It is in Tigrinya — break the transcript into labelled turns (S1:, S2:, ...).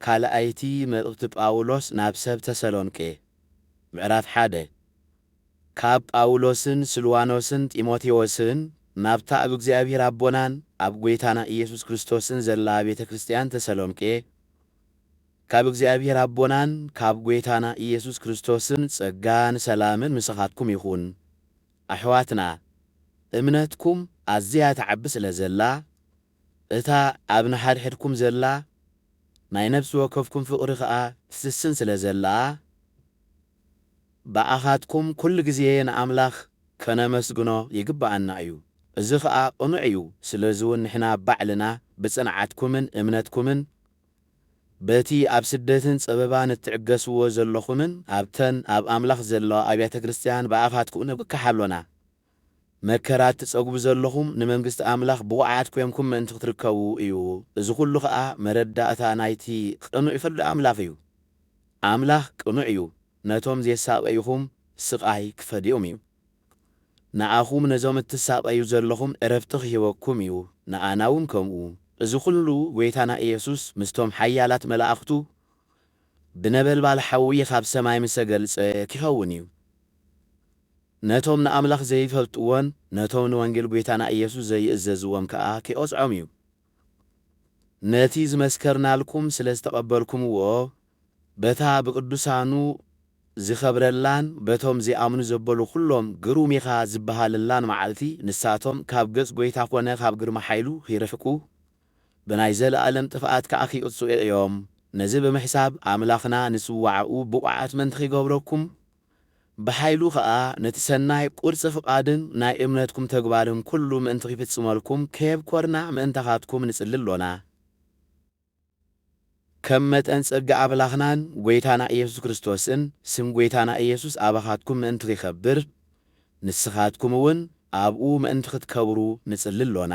S1: ካልኣይቲ መልእኽቲ ጳውሎስ ናብ ሰብ ተሰሎንቄ፣ ምዕራፍ ሓደ፣ ካብ ጳውሎስን ስልዋኖስን ጢሞቴዎስን ናብታ ኣብ እግዚኣብሔር ኣቦናን ኣብ ጐይታና ኢየሱስ ክርስቶስን ዘላ ቤተ ክርስቲያን ተሰሎንቄ፣ ካብ እግዚኣብሔር ኣቦናን ካብ ጐይታና ኢየሱስ ክርስቶስን ጸጋን ሰላምን ምሳኻትኩም ይኹን። ኣሕዋትና፣ እምነትኩም ኣዝያ ትዓቢ ስለ ዘላ፣ እታ ኣብ ንሓድሕድኩም ዘላ ናይ ነፍሲ ወከፍኩም ፍቕሪ ከኣ ትስስን ስለ ዘላ፣ ብኣኻትኩም ኩሉ ግዜ ንኣምላኽ ከነመስግኖ ይግብኣና እዩ። እዚ ኸኣ ቅኑዕ እዩ፣ ስለዚውን ንሕና ባዕልና ብጽንዓትኩምን እምነትኩምን በቲ ኣብ ስደትን ጸበባን እትዕገስዎ ዘሎኹምን ኣብተን ኣብ ኣምላኽ ዘለዋ ኣብያተ ክርስትያን ብኣኻትኩም ንብከሕ ኣሎና። መከራ እትጸግቡ ዘለኹም ንመንግስቲ ኣምላኽ ብቑዓት ኴንኩም ምእንቲ ክትርከቡ እዩ። እዚ ዅሉ ኸኣ መረዳእታ ናይቲ ቕኑዕ ፍርዲ ኣምላኽ እዩ። ኣምላኽ ቅኑዕ እዩ፣ ነቶም ዜሳቐዩኹም ስቓይ ኪፈድዮም እዩ። ንኣኹም ነዞም እትሳቐዩ ዘለኹም ዕረፍቲ ኺህበኩም እዩ፣ ንኣና እውን ከምኡ። እዚ ዅሉ ጐይታና ኢየሱስ ምስቶም ሓያላት መላእኽቱ ብነበልባል ሓዊ ኻብ ሰማይ ምስ ተገልጸ ኪኸውን እዩ። ነቶም ንኣምላኽ ዘይፈልጥዎን ነቶም ንወንጌል ጐይታና ኢየሱስ ዘይእዘዝዎም ከኣ ኪቐጽዖም እዩ። ነቲ ዝመስከርናልኩም ስለ ዝተቐበልኩምዎ፣ በታ ብቅዱሳኑ ዚኸብረላን በቶም ዚኣምኑ ዘበሉ ዅሎም ግሩም ኢኻ ዚብሃለላን መዓልቲ፣ ንሳቶም ካብ ገጽ ጐይታ ኰነ ካብ ግርማ ሓይሉ ኺርሕቁ፣ ብናይ ዘለኣለም ጥፍኣት ከኣ ኺቕጽዑ እዮም። ነዚ ብምሕሳብ፣ ኣምላኽና ንጽዋዕኡ ብቑዓት ምእንቲ ኺገብረኩም፣ ብኃይሉ ከኣ ነቲ ሠናይ ቊርጽ ፍቓድን ናይ እምነትኩም ተግባርን ኩሉ ምእንቲ ኺፍጽመልኩም ከየብኰርና ምእንታኻትኩም ንጽሊ ኣሎና። ከም መጠን ጸጋ ኣምላኽናን ጐይታና ኢየሱስ ክርስቶስን ስም ጐይታና ኢየሱስ ኣባኻትኩም ምእንቲ ኺኸብር ንስኻትኩምውን ኣብኡ ምእንቲ ኽትከብሩ ንጽሊ ኣሎና።